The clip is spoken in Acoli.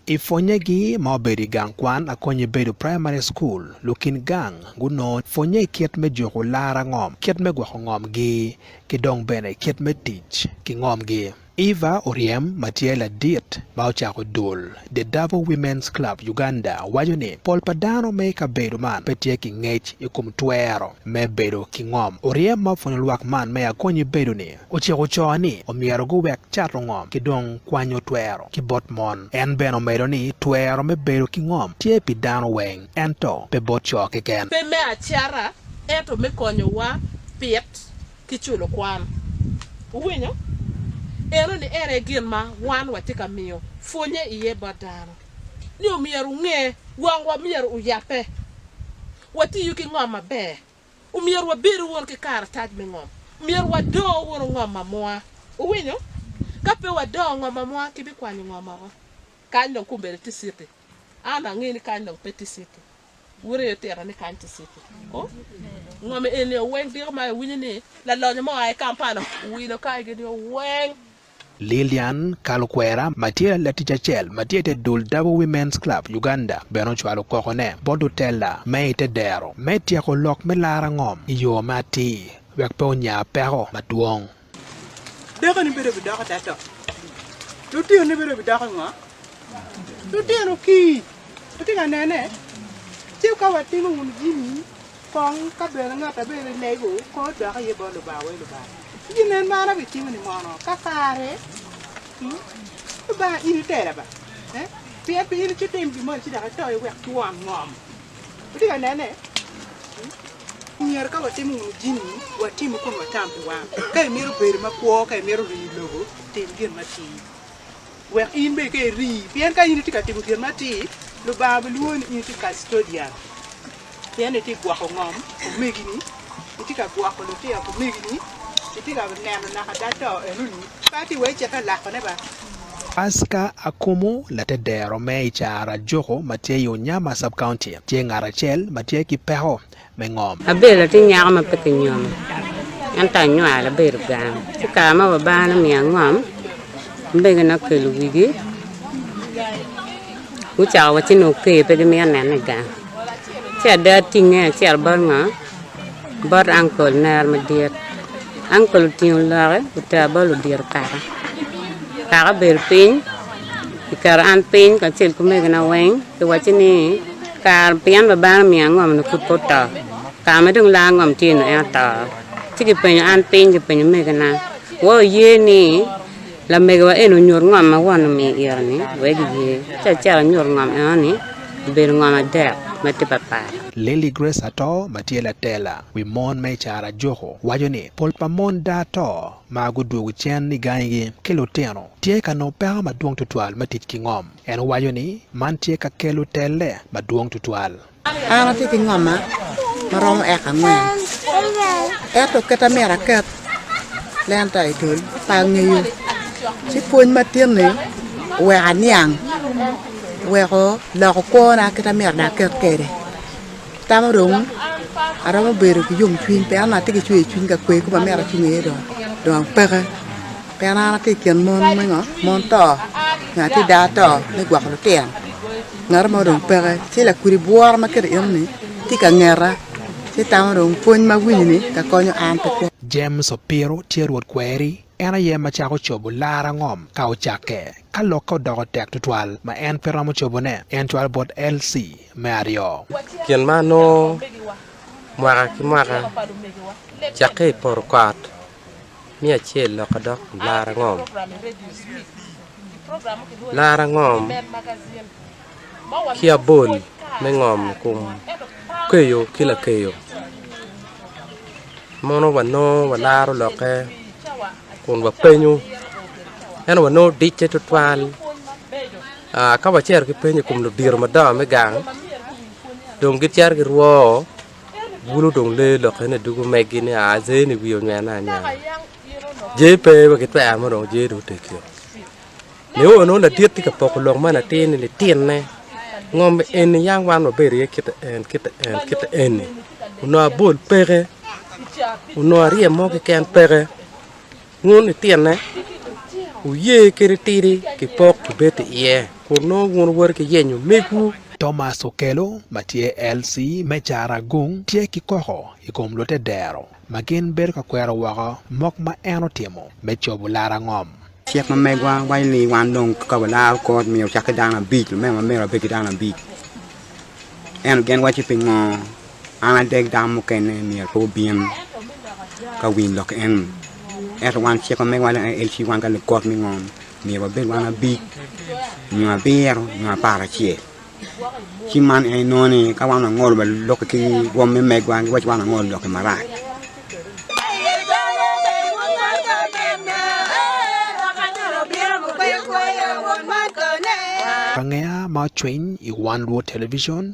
I pwonnyegi ma obedo i gang kwan a konye bedo praimari cukul, lukin gang gunongo pwonnye i kit me juko lara ngom, kit me gwoko ngomgi, ki dong bene kit me tic ki ngomgi. Eva Oryem ma tye ladit ma ocako dul The Davo Women's Club Uganda waco ni, Pol pa dano me kabedo man pe tye ki ngec i kom twero me bedo ki ngom. Oryem ma opwonyo lwak man me a konye bedo ni, Ociko co ni omyero guwek cato ngom ki dong kwanyo twero ki bot mon. En bene omedo ni twero me bedo ki ngom tye pi dano weng, ento pe bot co keken. Pe me acata, ento me konyowa pit ki culo kwan. Wuwinyo? Enoni en aye gin ma wan watye ka miyo pwonnye iye bot dano, ni omyero wunge wangwa myero oyabbe, watiyu ki ngom maber. Omyero wabedo wunu ki karatac me ngom. Myero wado wunu ngom amua. Wuwinyo? Ka pe wado ngom amua, kibikwanyo ngom oko. Kany dong kombeddi tye citi. An angeyo ni kany dong pe tye citi. Wuryeyo tira ni kany tye citi. Oh, ngom eni oweng diko ma iwinyo ni lalonyo mo oa i Kampala owilo kaigi ni oweng. Lillian Kalukwera ma tye latic acel ma tye i te dul Double Women's Club Uganda bene ocwalo kokone bot otella me i te dero me tyeko lok me lara ngom i yo ma atir wek pe onya peko madwong. Dakoni bedo bidoko tada to? Lutino ne bedo bidoko ngo? Lutino kii, wutye ka nene? Ci wuka watimo wunu jami kong ka bene ngat ma bedo ni lego kong odok iye bot Lubanga wai Lubanga. Ci gin nen man abitimo ni mono ka kare Lubanga in itela ba pien pe in ico tim gin moni ci dok ito iye wek twon ngom. Wutye ka nene? Myero ka watimo wunu jami watim kun watam pi wang. Ka imito bedo makwo, ka imito rii lobo, tim gin matir. Wek in bene ka iri, pien ka in itye ka timo gin matir, Lubanga bilwongo ni in itye kastodian, pien itye ka gwoko ngom omegini, itye ka gwoko lutino omegini, itye ka neno naka ada to enoni, pe atye wai ceke alakone ba. Pasca Akumu, latedero me i Caro-Ajuku ma tye i Unyama Sub-County, tye ngat acel ma tye ki peko me ngom. Abel atye nyako ma pe kinyomo, ento anywalo abedo gang. Ci kare ma Lubanga nomiyo angom, omegona okelo wigi gucako wa ci nongo oker pe gimito nena i gang. Ci ada atinge acito bot ngo? Bot uncle mera madit. Uncle otingo lokke otera bot ludito kaka. Kaka obedo piny, oketo an piny kacel ki omegona weng, pi wacci ni. Kara pien babana omiyo angom-nu pud pe oto. Kara ma dong laa angom tye-nu en oto. Ci kipenyo an piny, kipenyo omegina, Wa wuye ni lamegiwa eni onyut ngom ma Won omiyo iro-ni? Wek giye. Ci acito anyuto ngom enoni, obedo ngom adek ma tye papat. Lily Grace Ato ma tye latela wi mon ma i Carajuku waco ni, Pol pa mon da to ma gudwogo cen i gangigi ki lutino tye ka nongo peko madwong tutwal me tic ki ngom. En owaco ni man tye ka kelo telle madwong tutwal. An atye ki ngoma ma romo eka angwen, ento kit ma myero aket lenta i dul pe angeyo. Ci pwony matin-ni oweko aniang, oweko loko kwona kit ma myero dong aket kwede. Tama dong aromo bedo ki yomcwiny pien onongo atye ki cwercwiny ka kwe koma myero acung iye dong, dong apeke. Pien an atye i kin mon me ngo? Mon to, ngat i daa to me gwoko lutino. Ngat mo dong peke, ci lakudi bwora ma kite enoni tye ka ngeta, ci tamo dong pwony ma awinyoni ka konyo an pi kwo. James opiro tye Rwot kweri, en aye ma cako cobo lar angom ka ocakke, ka lokke odoko tek twatwal ma en pe romo cobone. En cwalo bot LC me aryo. Gin ma anongo mwaka ki mwaka, cakke i poto kot miyo acel loka dok laro angom. Laro angom ki abol me ngom i kom keyo ki lakeyo. Mono wanongo walaro lokke kun wapenyo ento wanongo dicce tutwal ka wacito ki penyo i kom ludito madongo me gang dong gicito girwoo. bulu dong lee lokke ni dugu megi ni aa jer ni wiye onywene anywena jer pe wa gitwero mo dong jer dong otegio nio nongo ladit tye ka poko lok ma latin ni litinne ngom eni yam wan wabedo iye kit en kit en kit eni onongo abol peke onongo arye mo keken peke Wun itinne, wuye kadi tidi ki pok ibed iye, kun nongo wun wuwoto ki yenyo megwu. Thomas Okello ma tye LC me Caragung tye ki koko i kom lute dero ma gin bedo ka kwero woko mok ma en otimo me cobo laro angom. Cik ma megwa waco ni wan dong ka walaro kot myero ocak ki dano abic, lumego ma myero abed ki dano abic. Ento gin waco pingo? An adek dano mukene myero pe wubin ka winyo lok eni, ento wan cik ma megiwa en ci wan ka lugot me ngom myero wabed wan abic nyo abiro nyo apar acel. Ci man en inongo ni ka wan wangolo wa lok ki rwom me megwa giwaco wan wangolo lok-ki marac. Bangeya ma ocwiny i wan luwo television